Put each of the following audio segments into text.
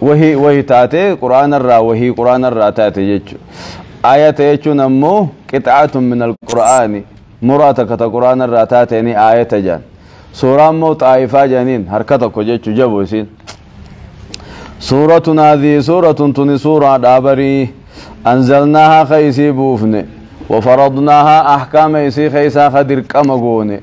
wahii wahii taate quraana irraa wahii quraana irraa taate jechu aayata jechuun ammoo qixaatun min alqur'aani muraa takka ta quraana irraa taateeni aayata jedhan suuraa ammoo xaayifaa jedhaniin harka tokko jechu jabu isiin suuratun haadhii suuratun tuni suuraa dhaabarii anzalnaahaa ka isii buufne wafaradnaahaa ahkaama isii keeysaa ka dirqama goone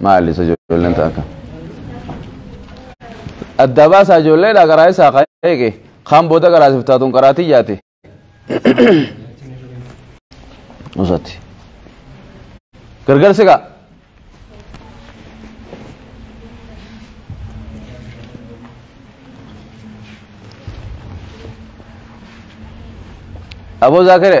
maali isa ijoolleen ta'a akka adda baasaa ijoolleedha garaa isaa kan eege kaan booda garaa siif taatuun garaa tiyyaati usatti gargarsi gaa aboo zaakire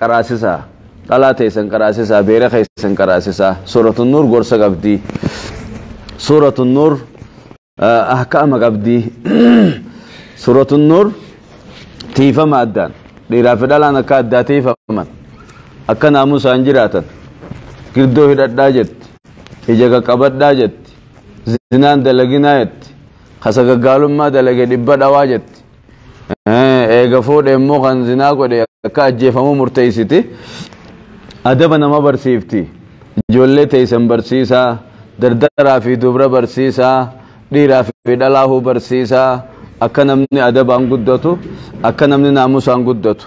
qaraasisaa dhalaa teessan qaraasisaa beera keessan qaraasisaa suuratu nuur gorsa qabdi suuratu nuur ahkaama qabdi suuratu nuur tiifama addaan dhiiraa fi dhalaan akka addaa tiifaman akka naamusaan jiraatan girdoo hidhadhaa jetti ija qaqqabadhaa jetti zinaan dalaginaa jetti kasagaggaalummaa dalage dhibba dhawaa jetti eega fuudhe immoo kan zinaa godhe akka ajjeefamuu murteeysiti adaba nama barsiifti ijoollee teeysan barsiisaa dardaraa fi dubra barsiisaa dhiiraa fi dhalaahuu barsiisaa akka namni adabaan guddatu akka namni naamusaan guddatu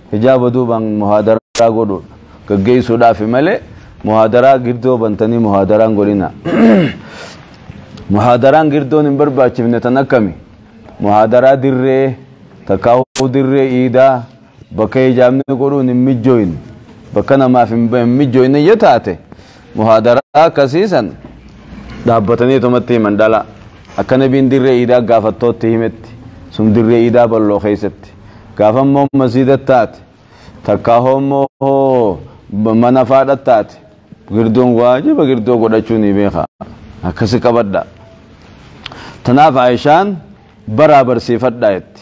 hijaaba duubaan muhaadaraa godhu gaggeessuudhaafi malee muhaadaraa girdoo bantanii muhaadaraa hin godhina. Muhaadaraan girdoon hin barbaachifne tan akkami? Muhaadaraa dirree takkaahuu dirree iidaa bakka hijaabni godhuun hin mijjooyne bakka namaaf hin mijjooyne yoo taate Muhaadaraa akkasii san dhaabbatanii tumatti himan dhala. Akka nabiin dirree iidaa gaafattootti himetti sun dirree iidaa bal'oo keessatti. Gaafa immoo masiida taate takkaa hoommoo hoo mana faadha taate girdoon waajiba girdoo godhachuu ni beeka. Akkasi qabadha. Tanaaf Aishaan baraa barsiifadhaa jetti.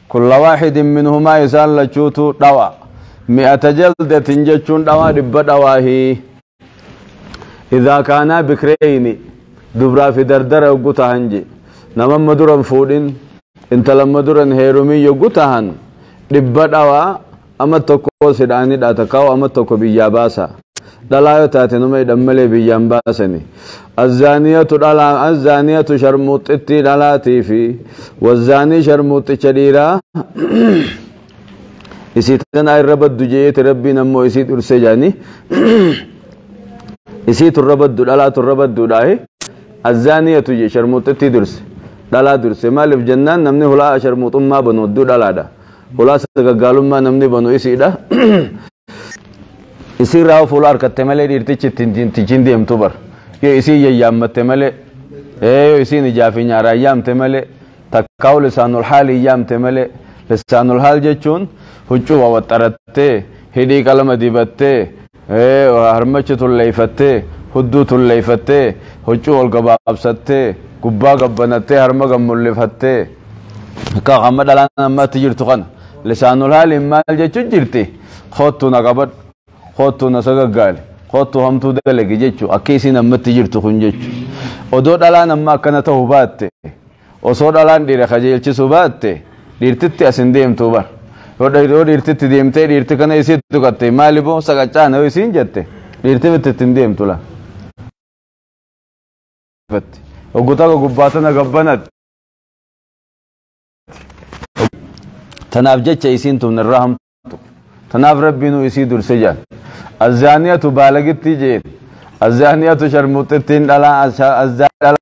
Kulla waaxidin minhumaa isaan lachuutuu dhawa. Mi'ata jaldatin jechuun dhawaa dhibba dhawaahi. Idhaa kaanaa bikreyni dubraa fi dardara yoggu tahan je. Nama amma dura hin fuudhin intala amma dura hin heerumin yoggu tahan dhibba dhawaa. Amat tokko si dhaan hidhaa takkaahuu amat tokko biyyaa baasaa. Dhalaa yoo taate nama hidhan malee biyyaa hin baasani. Azzaaniyatu dhalaa azzaaniyatu sharmuuxxittii dhalaatii fi wazzaanii sharmuuxxicha dhiiraa isii tanaa irra baddu je'eeti rabbiin ammoo isii dhurse jaanii isii turra baddu dhalaa turra badduudhaahi azzaaniyatu je sharmuuxxittii durse dhalaa durse maaliif jennaan namni hulaa sharmuuxummaa banu hedduu dhalaadha. Hulaa sagaggaalummaa namni banu isiidha. Isiirraa yoo fuula harkatte malee dhiirtichi ittiin tichiin deemtu bar. Yoo isiin yayyaammatte malee, yoo isiin ijaa fi nyaaraan yaamte malee, takkaa lisaanul haaliin yaamte malee, lisaanul haal jechuun huccuu wawaxxarattee, hidhii qalama dibattee, harmachi tulleeyfattee hudduu tulleeyfattee huccuu ol gabaabsattee gubbaa gabbanattee harma gad mullifattee akka amma dhalaan ammatti jirtu kana lisaanul haaliin maal jechuu jirti koottuu na qabadhu koottuu na sagaggaali koottuu hamtuu dalagi jechuu akka isiin ammatti jirtu kun jechuu odoo dhalaan amma akkana ta'u baatte Osoo dhalaan dhiira kajeelchisuu baatte dhiirtitti as hin deemtuu bar. Yoo dhiirtitti deemtee dhiirti kana isii tuqatte maali boo saqaccaana yoo isiin jette dhiirti mitti itti hin deemtu la. Oggu takka gubbaa tana gabbanatti. Tanaaf jecha isiin tun irraa hamtu. Tanaaf rabbiinuu isii durse jedhan. Azzaaniyatu baalagittii jeen. Azzaaniyatu sharmuuxxittiin dhalaa azzaaniyatu.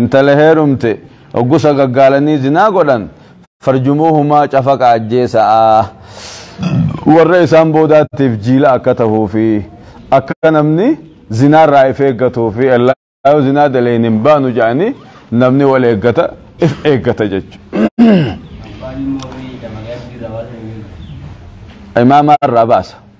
Intala heerumte oggusa gaggaalanii zinaa godhan farjumuuhumaa cafaqa ajjeesa'a. Warra isaan boodaatiif jiila akka tahuu fi akka namni zinaarraa if eeggatuu fi ellaa yoo zinaa dalayne hin baanu jedhanii namni wal eeggata if eeggata jechuudha. Imaama irraa baasa.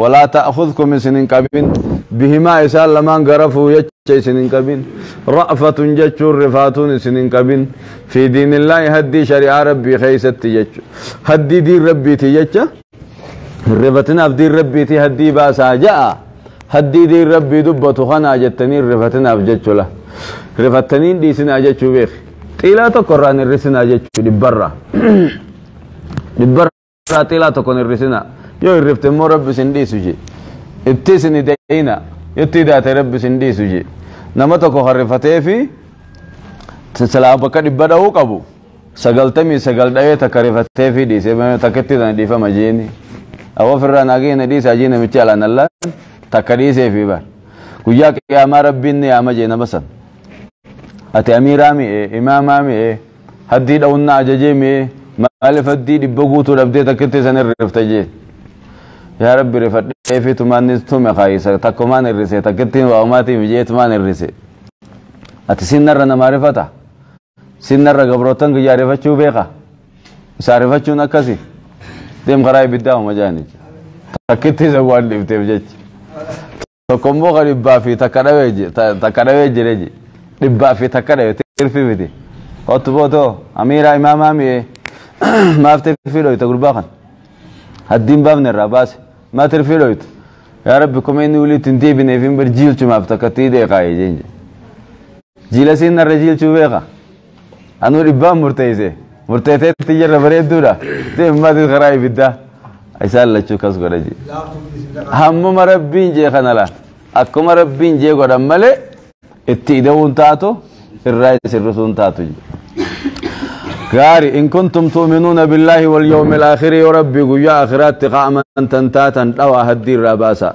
walaa ta'khudkum isin hin qabin bihimaa isaan lamaan garafuu jecha isin hin qabin ra'fatun jechuun rifaatuun isin hin qabin fi diinillaahi haddii shari'aa rabbii keessatti jechu haddii diin rabbiiti jecha hin rifatinaaf diin rabbiiti haddii baasaa ja'a haddii diin rabbii dubbatu kanaa jettanii hin rifatinaaf jechula rifattaniin dhiisinaa jechuu beeki xiilaa tokko irraa hin hir'isinaa jechuu dhibbarraa dhibbarraa irraa xiilaa tokko hin hir'isina yoo hir'ifte immoo rabbi isin dhiisu je itti isin hidayina itti hidaate rabbi isin dhiisu je nama tokko harrifatee fi silaa bakka dhibba dha'uu qabu sagaltamii sagal dha'ee takka rifatee fi dhiise takkitti sana dhiifama jeeni awwa ofirraa naagee na dhiisa jee namichi alaan allaan takka dhiisee fi bar guyyaa qiyaamaa rabbiin ni yaama jee nama san ati amiiraa mi'e imaamaa mi'e Haddii dha'uun na ajajee mee maaliif haddii dhibba guutuu dhabdee takkitti san irrifta jeen. Yaa rabbi rifadhee fi tumaan ni tume kaayisa takkumaan irrise takkitti waa'umaatiif jee tumaan irrise. Ati sinnarra namaa rifata. Sinnarra gabrootan kiyyaa rifachuu beeka. Isaa rifachuun akkasi. Deem karaa ibiddaa homa jaanicha. Takkitti isa waan dhifteef jecha. tokko immoo ka dhibbaa fi takka dhawee je- ta- takka dhawee jire je dhibbaa fi takka dhawe tirfi miti ottu bootoo amiiraa imaamaa mi'ee maaf tirfii dhoyta gurbaa kan haddiin baafne irraa baase maa tirfii dhoyta yaa rabbi kuma inni walitti hin deebineef hin barjiilchumaaf takka tii deeqaaye jeen jedhe Jiila siin narra jiilchuu beeka. Anuu dhibbaan murteesse. Murteesseetti jirra bareedduudha. Deemmatis karaa ibiddaa. Isaan lachuu kas godha jee. Hammuma rabbiin jee kana laa. Akkuma rabbiin jee godhan malee itti ida'uun taatu irraa isin rusuun taatu jee. Gaari in kuntum tu'minuuna billaahi wal yawmil aakhiri yoo rabbi guyyaa akhiraatti qaaman tan taatan dhawa haddii irraa baasa.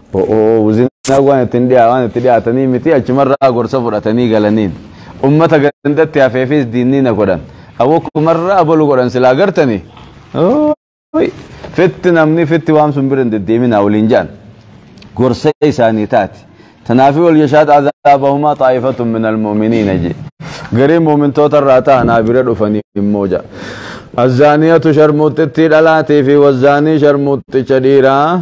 Zinaag waan ittiin dhiyaa waan itti dhiyaatanii miti achumarraa gorsa fudhatanii galaniin. Ummata gandatti hafeefis diinnii na godhan. Awwakumarraa abalu godhan silaa gartanii. Fitti namni fitti waan sun bira hin deddeeminaa waliin jedhan. Gorsa isaanii taati. Tanaafii wal yashaad azaabahumaa xaa'ifatun minal mu'miniina jee. Garii mu'mintoota irraa ta'anaa bira dhufanii immoo jedha. Azzaaniyatu sharmuuxxittii dhalaatii fi wazzaanii sharmuuxxicha dhiiraa.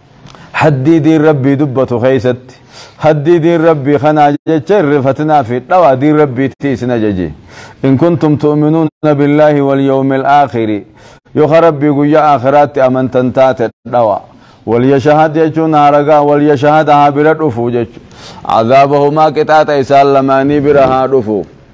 Haddii diin Rabbii dubbatu keessatti haddii diin Rabbii kanaa jecha hin rifatinaa fi dhawaa diin Rabbiitti isin ajaje. In kuntum tu'minuuna billaahi wal yawmil aakhiri yoo ka Rabbii guyyaa aakhiraatti amantan taate dhawaa. Wal yashahad jechuun haragaa wal yashahad haa bira dhufu jechuudha. Azaabahumaa qixaaxa isaan lamaanii bira haa dhufu.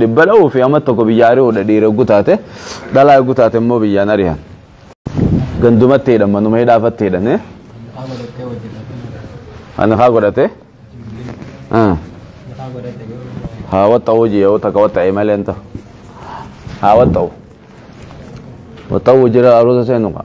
dhibba dha'uu fi amma tokko biyya ari'uudha dhiira eeguu taate dhalaa eeguu taate immoo biyyaan ari'an gandumatti hidhan manuma hidhaafatti hidhan ani kaa godhate haa waxxa'u hojii yoo takka waxxa'e malee hin ta'u haa waxxa'u waxxa'u jira aruusa seenu kaa